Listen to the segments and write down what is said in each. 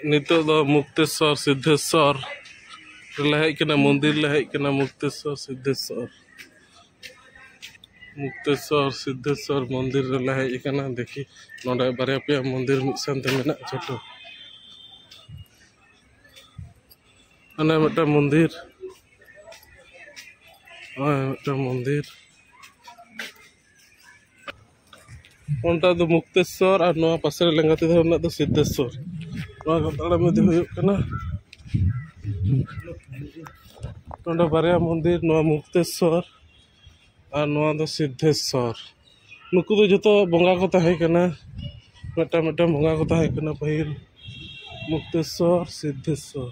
ᱱᱤᱛᱚᱜ ᱫᱚ ᱢᱩᱠᱛᱮᱥᱚᱨ ᱥᱤᱫᱽᱫᱷᱮᱥᱚᱨ ᱨᱮᱞᱮ ᱦᱮᱡ ᱠᱟᱱᱟ ᱢᱚᱱᱫᱤᱨ ᱞᱮ ᱦᱮᱡ ᱠᱟᱱᱟ ᱢᱩᱠᱛᱮᱥᱚᱨ ᱥᱤᱫᱽᱫᱷᱮᱥᱚᱨ ᱢᱩᱠᱛᱮᱥᱚᱨ ᱥᱤᱫᱽᱫᱷᱮᱥᱚᱨ ᱢᱚᱱᱫᱤᱨ ᱨᱮᱞᱮ ᱦᱮᱡ ᱠᱟᱱᱟ ᱫᱮᱠᱷᱤ ᱱᱚᱰᱮ ᱵᱟᱨᱭᱟ ᱯᱮᱭᱟ ᱢᱚᱱᱫᱤᱨ ᱢᱤᱫ ᱥᱟᱶᱛᱮ ᱢᱮᱱᱟᱜᱼᱟ ᱡᱚᱛᱚ ᱚᱱᱮ ᱢᱤᱫᱴᱟᱝ ᱢᱚᱱᱫᱤᱨ ᱱᱚᱜᱼᱚᱭ ᱢᱤᱫᱴᱟᱝ ᱢᱚᱱᱫᱤᱨ ᱚᱱᱴᱟ ᱫᱚ ᱢᱩᱠᱛᱮᱥᱥᱚᱨ ᱟᱨ ᱱᱚᱣᱟ ᱯᱟᱥᱮ ᱨᱮ ᱞᱮᱸᱜᱟᱛᱤ ᱫᱷᱟᱨᱮ ᱨᱮᱱᱟᱜ ᱫᱚ ᱥᱤᱫᱽᱫᱷᱮᱥᱥᱚᱨ ᱱᱚᱣᱟ ᱠᱚ ᱛᱟᱲᱟᱢ ᱤᱫᱤ ᱦᱩᱭᱩᱜ ᱠᱟᱱᱟ ᱱᱚᱰᱮ ᱵᱟᱨᱭᱟ ᱢᱚᱱᱫᱤᱨ ᱱᱚᱣᱟ ᱢᱩᱠᱛᱮᱥᱥᱚᱨ ᱟᱨ ᱱᱚᱣᱟ ᱫᱚ ᱥᱤᱫᱽᱫᱷᱮᱥᱥᱚᱨ ᱱᱩᱠᱩ ᱫᱚ ᱡᱚᱛᱚ ᱵᱚᱸᱜᱟ ᱠᱚ ᱛᱟᱦᱮᱸ ᱠᱟᱱᱟ ᱢᱤᱫᱴᱟᱝ ᱢᱤᱫᱴᱟᱝ ᱵᱚᱸᱜᱟ ᱠᱚ ᱛᱟᱦᱮᱸ ᱠᱟᱱᱟ ᱯᱟᱹᱦᱤᱞ ᱢᱩᱠᱛᱮᱥᱥᱚᱨ ᱥᱤᱫᱽᱫᱷᱮᱥᱥᱚᱨ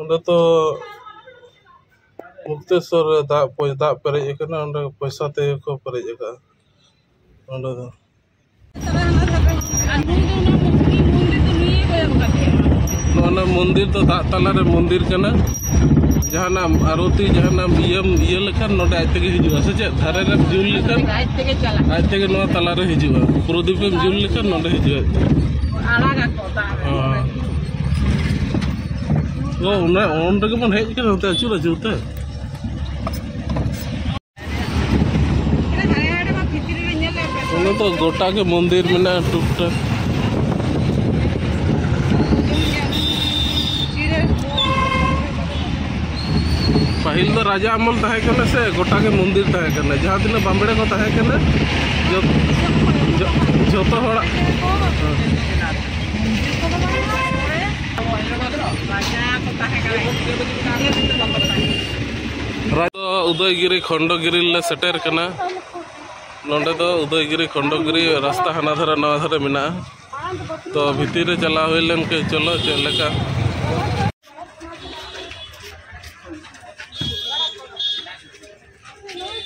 ᱚᱸᱰᱮ ᱛᱚ ᱢᱩᱠᱛᱮᱥᱚᱨ ᱨᱮ ᱫᱟᱜ ᱫᱟᱜ ᱯᱮᱨᱮᱡ ᱟᱠᱟᱱᱟ ᱚᱸᱰᱮ ᱯᱚᱭᱥᱟ ᱛᱮᱜᱮ ᱠᱚ ᱯᱮᱨᱮᱡ ᱟᱠᱟᱫᱼᱟ ᱚᱸᱰᱮ ᱫᱚ ᱱᱚᱣᱟ ᱢᱚᱱᱫᱤᱨ ᱫᱚ ᱫᱟᱜ ᱛᱟᱞᱟᱨᱮ ᱢᱚᱱᱫᱤᱨ ᱠᱟᱱᱟ ᱡᱟᱦᱟᱱᱟᱜ ᱟᱨᱚᱛᱤ ᱡᱟᱦᱟᱱᱟᱜ ᱤᱭᱟᱹᱢ ᱤᱭᱟᱹ ᱞᱮᱠᱷᱟᱱ ᱱᱚᱰᱮ ᱟᱡ ᱛᱮᱜᱮ ᱦᱤᱡᱩᱜᱼᱟ ᱥᱮ ᱪᱮᱫ ᱫᱷᱟᱨᱮ ᱨᱮᱢ ᱡᱩᱞ ᱞᱮᱠᱷᱟᱱ ᱟᱡ ᱛᱮᱜᱮ ᱱᱚᱣᱟ ᱛᱟᱞᱟᱨᱮ ᱦᱤᱡᱩᱜᱼᱟ ᱯᱨᱚᱫᱤᱯ ᱮᱢ ᱡᱩᱞ ᱞᱮᱠᱷᱟᱱ ᱱᱚᱰᱮ ᱦᱤᱡᱩᱜᱼᱟ ᱚᱱᱟ ᱚᱱ ᱨᱮᱜᱮ ᱵᱚᱱ ᱦᱮᱡ ᱠᱟᱱᱟ ᱱᱚᱛᱮ ᱟᱹᱪᱩᱨ ᱟᱹᱪᱩᱨ ᱛᱮ ᱚᱱᱟ ᱫᱚ ᱜᱚᱴᱟ ᱜᱮ ᱢᱚᱱᱫᱤᱨ ᱢᱮᱱᱟᱜᱼᱟ ᱴᱩᱠ ᱴᱟᱠ ᱯᱟᱹᱦᱤᱞ ᱫᱚ ᱨᱟᱡᱟ ᱟᱢᱚᱞ ᱛᱟᱦᱮᱸ ᱠᱟᱱᱟ ᱥᱮ ᱜᱚᱴᱟ ᱜᱮ ᱢᱚᱱᱫᱤᱨ ᱛᱟᱦᱮᱸ ᱠᱟᱱᱟ ᱡᱟᱦᱟᱸ ᱛᱤᱱᱟᱹᱜ ᱵᱟᱢᱵᱲᱮ ᱠᱚ ᱛᱟᱦᱮᱸ ᱠᱟᱱᱟ ᱡᱚᱛᱚ ᱦᱚᱲᱟᱜ ᱩᱫᱚᱭᱜᱤᱨᱤ ᱠᱷᱚᱱᱰᱚᱜᱤᱨᱤ ᱞᱮ ᱥᱮᱴᱮᱨ ᱠᱟᱱᱟ ᱱᱚᱰᱮ ᱫᱚ ᱩᱫᱚᱭᱜᱤᱨᱤ ᱠᱷᱚᱱᱰᱚᱜᱤᱨᱤ ᱨᱟᱥᱛᱟ ᱦᱟᱱᱟ ᱫᱷᱟᱨᱮ ᱱᱚᱣᱟ ᱫᱷᱟᱨᱮ ᱢᱮᱱᱟᱜᱼᱟ ᱛᱚ ᱵᱷᱤᱛᱤᱨ ᱨᱮ ᱪᱟᱞᱟᱣ ᱦᱩᱭ ᱞᱮᱱ ᱠᱮ ᱪᱚᱞᱚ ᱪᱮᱫ ᱞᱮᱠᱟ